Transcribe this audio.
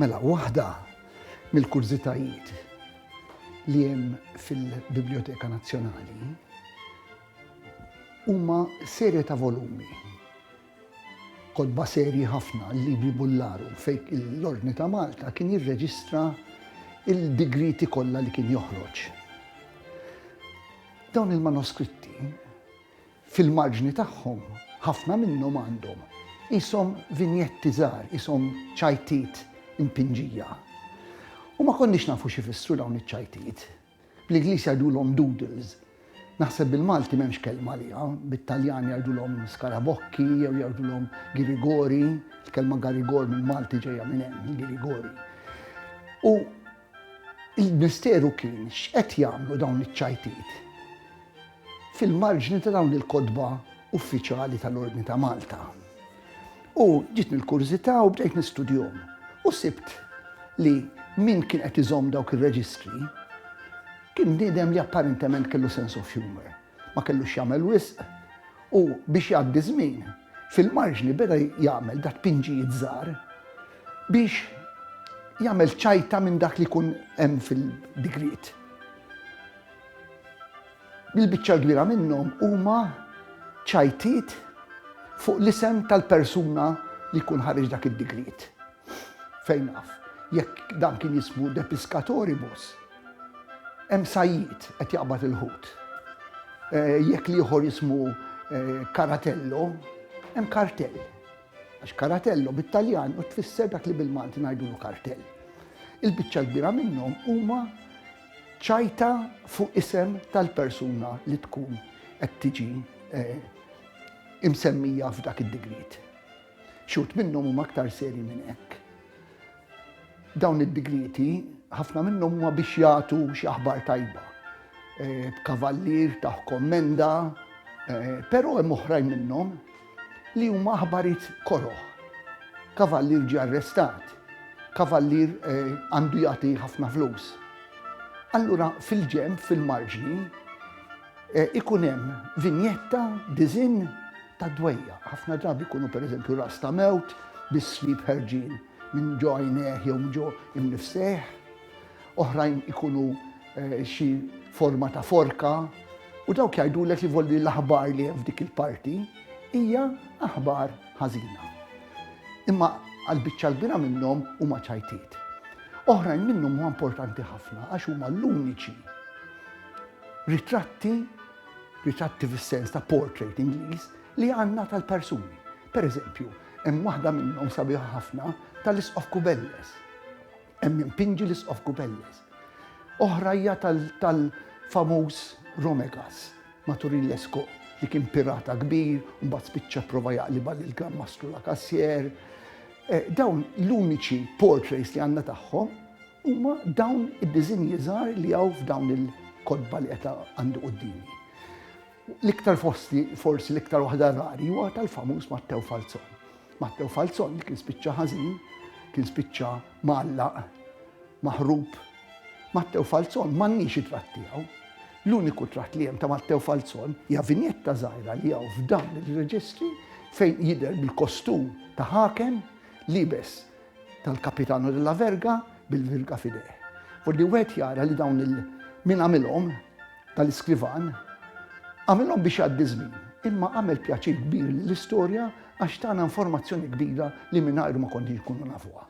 Mela, waħda mill-kurżitajiet li hemm fil-Biblioteka Nazzjonali huma serje ta' volumi Kotba serji ħafna, il-libri Bullaru, fejn l-Ordni ta' Malta kien jirreġistra l-digrieti kollha li kien joħroġ. Dawn il-manoskritti, fil-marġni tagħhom, ħafna minnhom għandhom qishom vinjetti żgħar, qishom ċajtiet impinġija. U ma konniex nafu x'ifissru dawn iċ-ċajtiet. Bl-Ingliż jgħidulhom doodles. Naħseb bil-Malti m'hemmx kelma għaliha. Bit-Taljan jgħidulhom skarabokki jew jgħidulhom girigori. Il-kelma garigor mill-Malti ġejja minn hemm, il-girigori. U l-misteru kien x'qed jagħmlu dawn iċ-ċajtiet. fil-marġni ta' dawn il-kotba uffiċjali tal-Ordni ta' Malta. U ġietni l-kurżità u bdejt nistudjhom u sibt li min kien qed iżomm dawk ir-reġistri kien bniedem li apparentement kellu sense of humour. Ma kellu x'jagħmel wisq u biex jgħaddi żmien fil-marġni beda jagħmel da' tpinġijiet żgħar biex jagħmel ċajta minn dak li jkun hemm fil-digriet. Il-biċċa l-kbira minnhom huma ċajtiet fuq l-isem tal-persuna li jkun ħareġ dak id-digriet. Fejn naf, jekk dan kien jismu de piscatoribus, hemm sajjid qed jaqbad il-ħut. Eh, jekk li ieħor jismu Karatello, eh, hemm kartell. Għax karatello bit-Taljan u tfisser dak li bil-Malti ngħidulu kartell. Il-biċċa l-kbira minnhom huma Ċajta fuq isem tal-persuna li tkun qed tiġi imsemmija f'dak id-digriet. Xi wħud minnhom huma aktar serji minn hekk. Dawn id-digrieti ħafna minnhom huma biex jagħtu xi aħbar tajba, b'kavallier taħ kommenda, però hemm oħrajn minnhom Li huma aħbarijiet koroh. Kavallier ġie arrestat. Kavallier għandu jagħti ħafna flus. Allura fil-ġenb, fil-marġni, ikun hemm vinjetta, diżinn ta' dwejjaq. Ħafna drabi jkunu pereżempju ras ta' mewt bis-slieb ħerġin minn ġo għajnejh jew minn ġo imnifsejh. oħrajn ikunu xi forma ta' forka, u dawk jgħidulek li volli l-aħbar li hemm f'dik il-parti hija aħbar ħażina. Imma għall-biċċa l-bira minnhom huma ċajtiet. Oħrajn minnhom huma importanti ħafna għax huma l-uniċi ritratti, ritratti fis-sens ta' portrait Ingliż li għandna tal-persuni. Per eżempju, hemm waħda minnhom sabiħa ħafna tal-Isqof Kubelles Hemm impinġi l-Isqof Kubelles. Oħra hija tal-famuż Romegas, Maturin Lescaut, li kien pirata kbir, mbagħad spiċċa prova jaqliba lil Gran Mastru la Cassier. Eh, dawn l-uniċi portraits li għandna tagħhom huma dawn id-diżinji żgħar li hawn f'dawn il-kodba li qed għandu qudiemi. L-iktar fosti, forsi l-iktar waħda rari, huwa tal-famuż Mattew Falzon. Mattew Falzon li kien spiċċa ħażin, kien spiċċa mgħallaq, maħrub. Mattew Falzon m'għandniex it-tratt tiegħu. L-uniku tratt li hemm ta' Mattew Falzon hija vinjetta żgħira li hawn f'dan ir-reġistri fejn jidher bil-kostum ta' ħakem libes tal-Capitano della Verga bil-virga f'idejh. Forsi wieħed jara li dawn il min għamilhom tal-iskrivan għamilhom biex jgħaddi żmien, imma għamel pjaċir kbir lill-istorja għax tana informazzjoni kbira li mingħajru ma konniex nkunu nafuha.